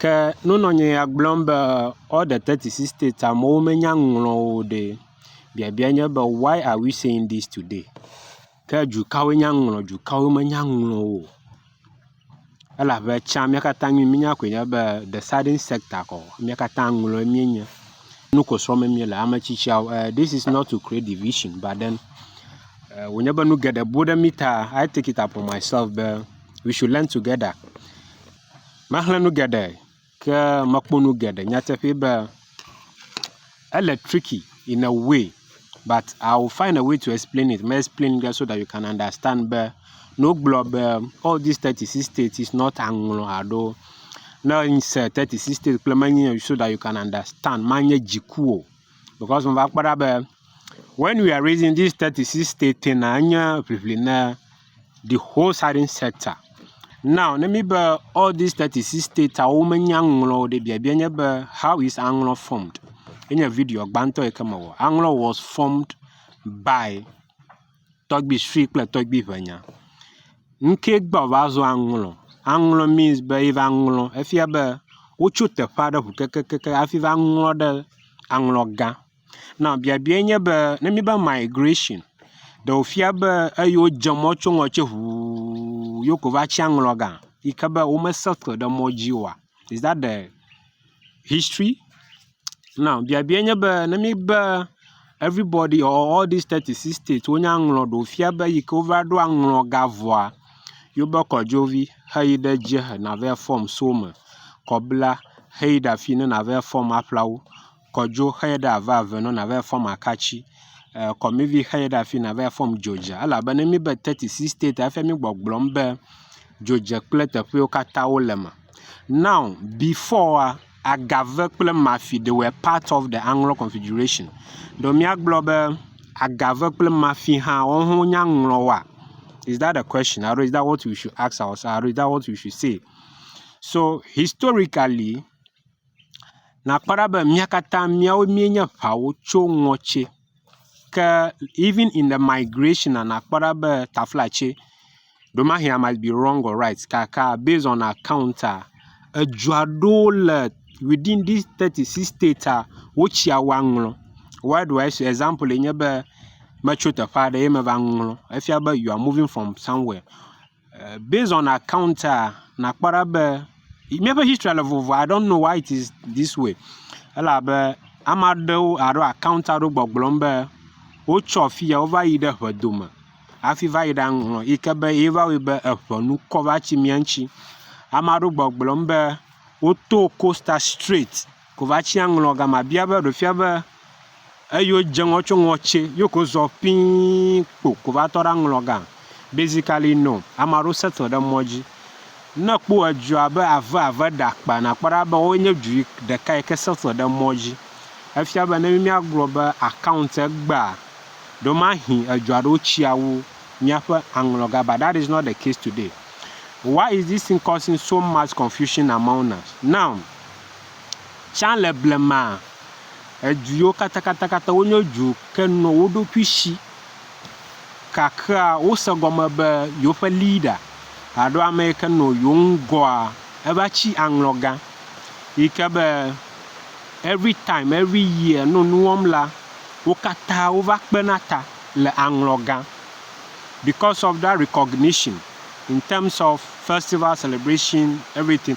Ke nunɔnye ya gblɔm be all the thirty six states amewo menya nu ŋlɔ o ɖe. Biabia nye be why are we saying this today? Ke dukawoe nya nu ŋlɔ dukawoe menya nu ŋlɔ o. Elabe tsã mía katã nu yi míenya koe nye be the southern sector ko mía katã ŋlɔe míenye. Nu ko srɔ̃m míele. Ame tsitsiawo e this is not to create division but then e wònye be nu geɖe bu ɖe mí ta. I take it upon myself be we should learn together. Maxlẽ nu geɖe ke mekpɔ nu geɖe nyateƒe be ele tricky in a way but I will find a way to explain it me explain ge so that you can understand be ne wogblɔ be all dis teti six state is not aŋlɔ alo ne ese teti six state kple menye so that you can understand manye dziku o because meva kpɔ ɖa be. When we are raising this thirty six state thing na enye ʋiʋli na the whole southern sector. Now ne mi be all these thirty six states awo menya ŋlɔ o ɖe biabia nye be how is aŋlɔ formed? Enye video gbãtɔ yi ke mewɔ. Aŋlɔ was formed by tɔgbi sue kple tɔgbi ʋenya. Ŋke gbɔ va zɔ aŋlɔ. Aŋlɔ means be yi va ŋlɔ. Efia be wotso teƒe aɖe ŋu kekekeke hafi va ŋlɔ ɖe aŋlɔ gã. Naw biabiae nye be ne míbe migration ɖe wòfia be eyi wodze mɔ tso ŋɔ tse ŋuu ye woko va tsi aŋlɔ ga yi ke be wome settle ɖe mɔ dzi oa is dat de history? Naw biabiae nye be ne míbe everybody or all dis teti sis teti wonye aŋlɔ ɖe wòfia be eyi ke wova ɖo aŋlɔ ga vɔa yewobe kɔdzovi heyi ɖe edzi hena va fɔm so eme kɔ bla heyi ɖe afi yi ne nava fɔm aƒla wo. kɔ dzo xe ye ɖe ava eve nɔ nava yi fɔm akatsi. E kɔmivi xe ye ɖe afi nava yi fɔm dzo dza elabe ne míbe teti si state efia mí gbɔgblɔm be dzo dze kple teƒewo katã wo le eme. Now beforea agave kple mafi they were part of the aŋlɔ configuration. Ɖo míagblɔ be agave kple mafi hã woawo hã wonye aŋlɔ wa? Is that the question alo is that what we should ask ourselves alo is that what we should say? So historically. Nakpɔ ɖa be mía katã míawo míenye ŋawo tso ŋɔtse ke even in the migration na nakpɔ ɖa be taflatse ɖewomahea I might be wrong or right gake based on accounta edu aɖewo le within dis teti six states wotsi awu aŋlɔ. Why do I say example ye nye be metso teƒe aɖe ye meva ŋlɔ efia be you are moving from somewhere. Eh, based on account a, ah, nakpɔ ɖa be míaƒe history le vovo. I don't know why it is this way. Elabe ame aɖewo alo account aɖewo gbɔgblɔm be wotsɔ afi ya wova yi ɖe ʋedome hafi va yi ɖe aŋlɔ yi ke be ye va wɔe be eŋenu kɔ va tsi mía ŋuti. Ame aɖewo gbɔgblɔm be woto Costa Straight. Kovacia ŋlɔ gama bia be ɖe fia be eyo dze ŋɔ tso ŋɔtse yo ko zɔ ƒii kpo ko va tɔ ɖa ŋlɔ ga. Basically no, ame aɖewo settle ɖe mɔ dzi. Ne èkpɔ edu abe ave ave ɖe akpa nakpɔ ɖa be woe nye du yi ɖeka yi ke settle ɖe mɔ dzi. Efia be ne míagblɔ be account egbea, ɖewomahĩ edu aɖewo tsia wu míaƒe aŋlɔ ga but that is not the case today. Why is this thing causing so much confusion among us now? Tsã le blemaa, edu yiwo katãkatãkatã wonye du ke nɔ wo ɖokui shi. Kakea wose gɔme be yewoƒe leader alo ame yi ke nɔ yewo ŋgɔa eva tsi aŋlɔ gã yi ke be every time every year nɔ nu wɔm la wo katã wova kpena ta le aŋlɔ gã because of that recognition in terms of festival celebration everything.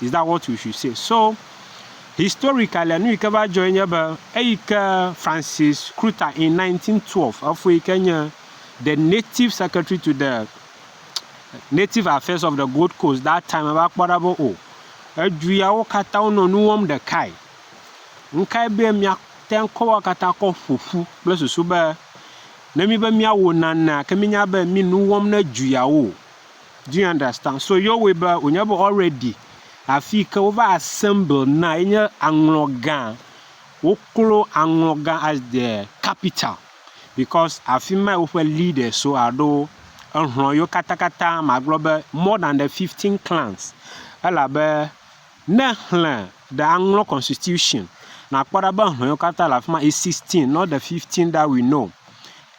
is that what we should say so historically nu yi ke va dzɔe nye be eyi ke Francis Kruta in 1912 efo yi ke nye the native secretary to the native affairs of the Gold Coast that time eva kpɔ ɖa be o oh, edu yawo katã wonɔ nu wɔm ɖekae nkae be mia te ŋkɔwa katã kɔ ƒoƒu kple susu be ne mi be miawo nanea ke minya be mi nu wɔm ne duyawo Do you understand? So yewɔe be wònye be already afi yi ke wova assemble na ye nye aŋlɔ gã. Woklo aŋlɔ gã as the capital because afi mae woƒe leaders so alo ehlɔ̃ yewo katakata magblɔ be more than the fifteen clans elabe ne èxlẽ the aŋlɔ constitution, nàkpɔ ɖa be hlɔ̃ yewo katã le afi ma is sixteen not the fifteen that we know.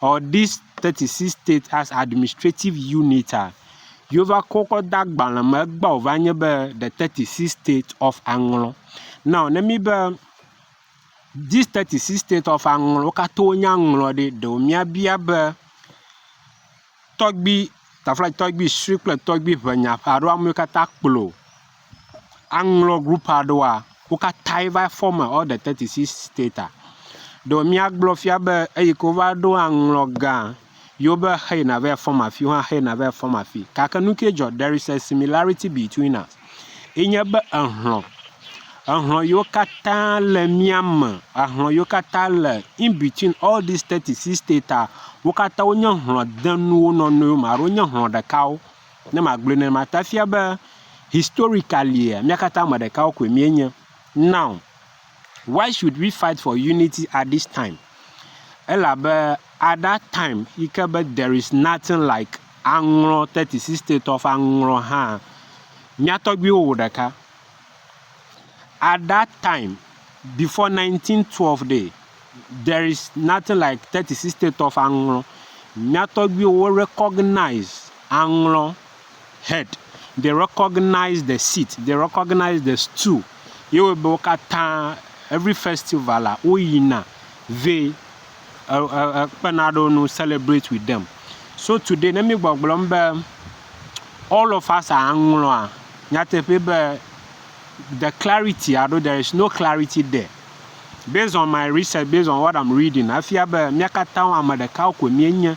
or this thirty six state as administrative unit a, yova kɔ kɔ da agbalẽ me egbea wòva nye be the thirty six state of aŋlɔ. Now ne mi be this thirty six state of aŋlɔ wo katã wonye aŋlɔ ɖe, ɖewo míabia be. tɔgbui, taflaga tɔgbui sue kple tɔgbui ŋɛ nya ƒe alo ame yiwo katã kplɔ aŋlɔ group aɖewoa, wo katã va form all the thirty six stater. Ɖe míagblɔ fia be eyi ke wova ɖo aŋlɔ gã yewo be xeyina va yi form afi, wohã xeyina va yi form afi gake nu kae dzɔ? There is a similarity between us. ye nye be ehlɔ, ehlɔ yiwo katã le mía me, ehlɔ yiwo katã le in between all these thirty six states aa, wo katã wonye hlɔ denu wo nɔ nɔewo me alo wonye hlɔ ɖekawo ne magblɔe nenema ta efia be historicalia mía katã ame ɖekawo koe míenye. Now. Why should we fight for unity at this time? Elabe at that time yi ke be there is nothing like aŋlɔ 36 state of aŋlɔ hã, mía tɔgbuiwo wò ɖeka. At that time, before 1912 day, there is nothing like 36 state of aŋlɔ. Mía tɔgbuiwo wo recognize aŋlɔ. head, they recognize the seat, they recognize the stool, ye wɔe be wo katã every festival ah woyina vɛ ekpena ɖe wo ŋu celebrate with them. So today ne mí gbɔgblɔm be all of us are aŋlɔa, nyateƒee be the clarity alo there is no clarity there. Based on my research, based on what I'm reading, efia be mía katã ame ɖeka koe míenye.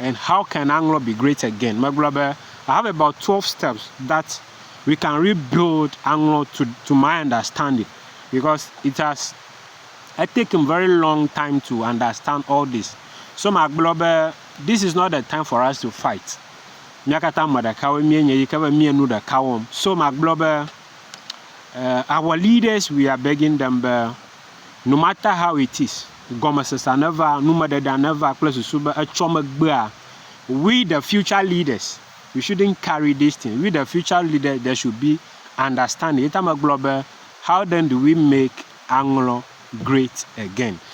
And how can aŋlɔ be great again? Megblɔ be, I have about twelve steps that we can rebuild aŋlɔ to to my understanding because it has e taken very long time to understand all this. So magblɔ be, this is not the time for us to fight. Mía katã ame ɖekawoe míenye yi ke be míe nu ɖeka wɔm. So magblɔ be, eh, our leaders we are begging them be, No matter how it is, gɔmesesea neva, numeɖeɖea neva kple susu be etsɔ megbea, we the future leaders, we shouldn't carry this thing, we the future leaders, there should be understanding. Ye ta megblɔ be, how then do we make aŋlɔ great again?